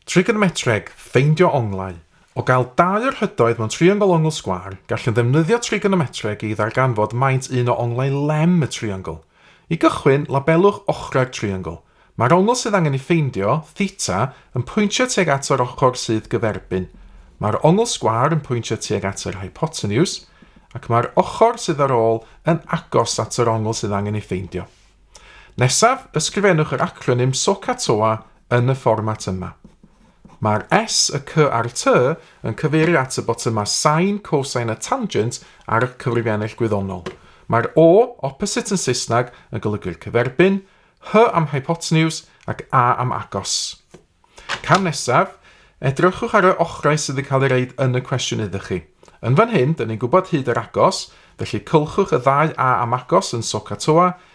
Trigonometreg, ffeindio onglau. O gael dau o'r hydoedd mewn triongl ongl sgwâr, gallwn ddefnyddio trigonometreg i ddarganfod maint un o onglau lem y triongl. I gychwyn, labelwch ochrau'r triongl. Mae'r ongl sydd angen ei ffeindio, theta, yn pwyntio tuag at yr ochr sydd gyferbyn. Mae'r ongl sgwâr yn pwyntio tuag at yr hypoteniws, ac mae'r ochr sydd ar ôl yn agos at yr ongl sydd angen ei ffeindio. Nesaf, ysgrifennwch yr acronym SOHCAHTOA yn y fformat yma. Mae'r S, y C a'r T yn cyfeirio at y botymau sain, cosain a tangent ar y cyfrifiannell gwyddonol. Mae'r O, opposite yn Saesneg, yn golygu'r cyferbyn, H am hypotenuse ac A am agos. Cam nesaf, edrychwch ar y ochrau sydd yn cael ei reid yn y cwestiwn iddo chi. Yn fan hyn, dyn ni'n gwybod hyd yr agos, felly cylchwch y ddau A am agos yn Soka Toa,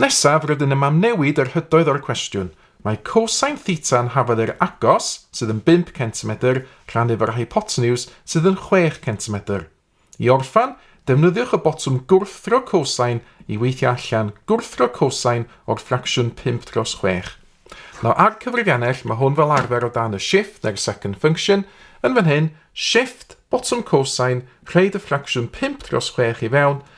Nesaf, rydyn am amnewid yr hydoedd o'r cwestiwn. Mae cosine theta yn hafod yr agos, sydd yn 5 centimedr, rhannu efo'r hypoteniws, sydd yn 6 centimedr. I orffan, defnyddiwch y botwm gwrthdro cosine i weithio allan gwrthdro cosine o'r ffracsiwn 5 dros 6. Nawr ar cyfrifiannell, mae hwn fel arfer o dan y shift neu'r second function, yn fan hyn, shift, botwm cosine, rhaid y ffracsiwn 5 dros 6 i fewn,